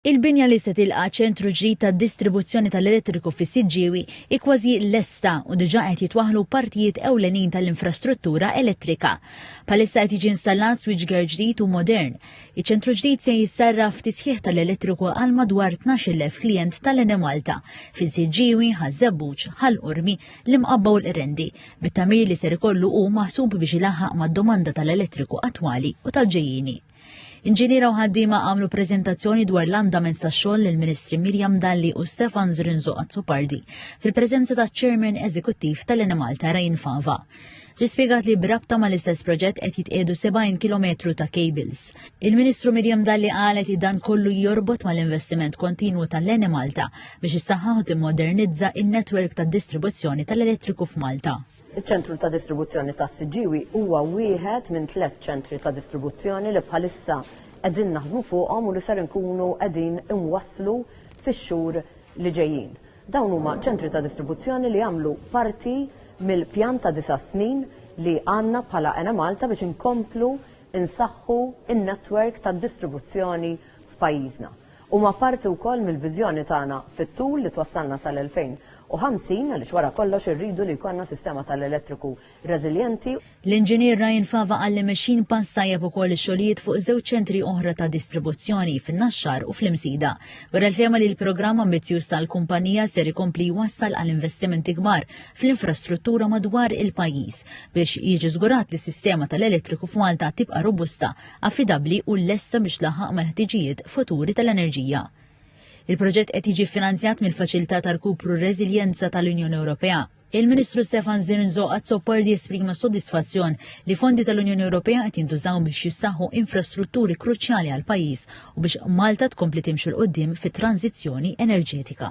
Il-binja li se tilqa' ċentru ġdid tad-distribuzzjoni tal-elettriku fis-Siġġiewi hi kważi lesta u diġà qed jitwaħħlu partijiet ewlenin tal-infrastruttura elettrika. Bħalissa qed jiġi installat switchgear ġdid u modern. Iċ-ċentru ġdid se jissarraf f'tisħiħ tal-elettriku għal madwar 12,000 klijent tal-Enemalta fis-Siġġiewi, Ħaż-Żebbuġ, Ħal Qormi, l-Imqabba u l-Qrendi, bit-tagħmir li ser ikollu hu maħsub biex ilaħħaq mad-domanda tal-elettriku attwali u tal-ġejjieni. Inġiniera u ħaddiema għamlu preżentazzjoni dwar l-andament ta' xogħol lill ministri Mirjam Dalli u Stefan Zrinzo Azzopardi fil-preżenza ta' Chairman Eżekuttiv tal-Enemalta Rajn Fava. Rispiegat li brabta ma l-istess proġett qed jitqiedu 70 km ta' cables. Il-Ministru Mirjam Dalli qalet li dan kollu jorbot ma l-investiment kontinwu tal-Ene Malta biex issaħħaħ u timmodernizza in-netwerk tad-distribuzzjoni tal-elettriku f'Malta. Iċ-ċentru ta' distribuzzjoni tas-Siġġiewi huwa wieħed minn tliet ċentri ta' distribuzzjoni li bħalissa qegħdin naħdmu fuqhom u li ser inkunu qegħdin inwasslu fix-xhur li ġejjin. Dawn huma ċentri ta' distribuzzjoni li jagħmlu parti mill-pjan ta' disa' snin li għandna bħala Enemalta biex inkomplu nsaħħu n-netwerk tad-distribuzzjoni f'pajjiżna. Huma parti wkoll mill-viżjoni tagħna fit-tul li twassalna sal-2050 għaliex wara kollox irridu li jkollna sistema tal-elettriku reżiljenti. L-Inġinier Ryan Fava qal li mexjin pass tajjeb ukoll ix-xogħlijiet fuq żewġ ċentri oħra ta' distribuzzjoni, fin-Naxxar u fl-Imsida. Wera l-fehma li l-programm ambizzjuż tal-kumpanija ser ikompli jwassal għal investimenti kbar fl-infrastruttura madwar il-pajjiż biex jiġi żgurat li s-sistema tal-elettriku f'Malta tibqa' robusta affidabbli u lesta biex tlaħħaq mal-ħtiġijiet futuri tal-enerġija. Il-proġett qed jiġi ffinanzjat mill-Faċilità ta' Rkupru u Reżiljenza tal-Unjoni Ewropea. Il-Ministru Stefan Zirnzo Azzopardi esprima s-sodisfazzjon li fondi tal-Unjoni Ewropea qed jintużaw biex jissaħħu infrastrutturi kruċjali għall-pajjiż u biex Malta tkompli timxi 'l quddiem fit-tranżizzjoni enerġetika.